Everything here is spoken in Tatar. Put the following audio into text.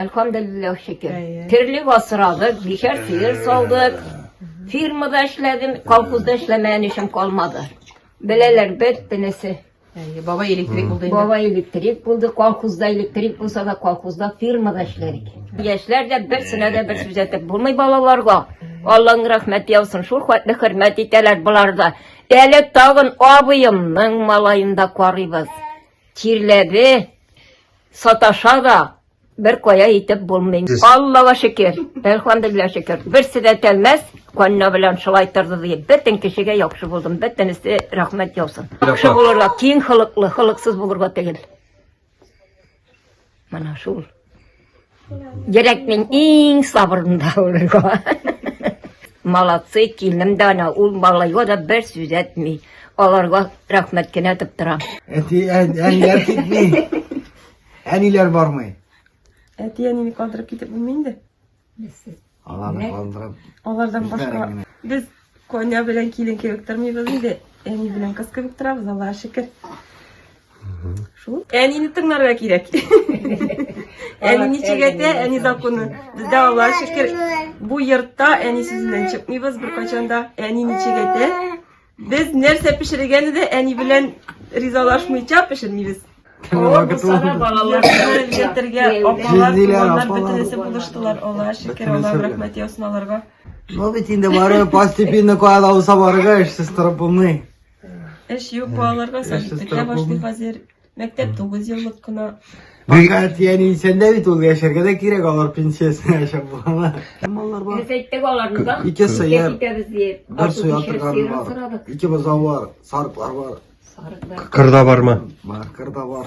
Әлхамдулиллах шөкер. Терлек асрадык, бишәр сыер салдык. Фирмада эшләдем, колхозда эшләмәгән эшем калмады. Беләләр бит тенесе. Әйе, баба электрик булды инде. Баба электрик булды, колхозда электрик булса да колхозда фирмада эшләдек. Яшьләр дә берсенә дә бер сүз әйтеп булмый балаларга. Алланың рәхмәте яусын, шул хәтле хөрмәт итәләр болар да. Әле тагын абыемның малаен да карыйбыз. Тирләде, Саташа да бер кая итеп булмый. Аллага шөкер, әлхамдулилла шөкер. Берсе дә тәлмәс, канна белән шулай торды ди. Бөтен кешегә яхшы булдым, бөтенесе рәхмәт яусын. Яхшы булырга, киң хылыклы, хылыксыз булырга түгел. Менә шул. Йөрәкнең иң сабырында урырга. Молодцы, килнем дә ана, ул малайга да бер сүз әйтми. Аларга рәхмәт кенә әйтеп тора. Әти, әниләр китми. Әниләр бармый. Әти, әнине калдырып китеп булмый инде. Аларны калдырып. Алардан башка без Коня белән килен кебек тормыйбыз инде. Әни белән кыз кебек торабыз, Аллага шөкер. Шул. Әнине тыңларга кирәк. Әни ничек әйтә, әни законы. Бездә Аллага шөкер, бу йортта әни сүзеннән чыкмыйбыз беркайчан да. Әни ничек әйтә, Без нәрсә пешерергәне дә әни белән ризалашмыйча пешермибез. Җитәргә апалар, туганнар бөтенесе булыштылар. Аллага шөкер, Аллаһым рәхмәт яусын аларга. Ну бит инде бары постепенно кая да булса барырга эшсез торып булмый. Эш юк балаларга сәләтле башлый хәзер. Мәктәп 9 еллык кына. Фәкать яни сәндә бит ул яшәргә дә кирәк алар пенсиясенә яшәп булганда. Маллар бар. Без әйттек аларны да. Ике Безгә сыер, китәбез диеп. бер Артык сөя ишәр торган сыерын бар. сорадык. Ике бозау бар, сарыклар бар. Сарык бар. Кырда барма. Бар, кырда бар.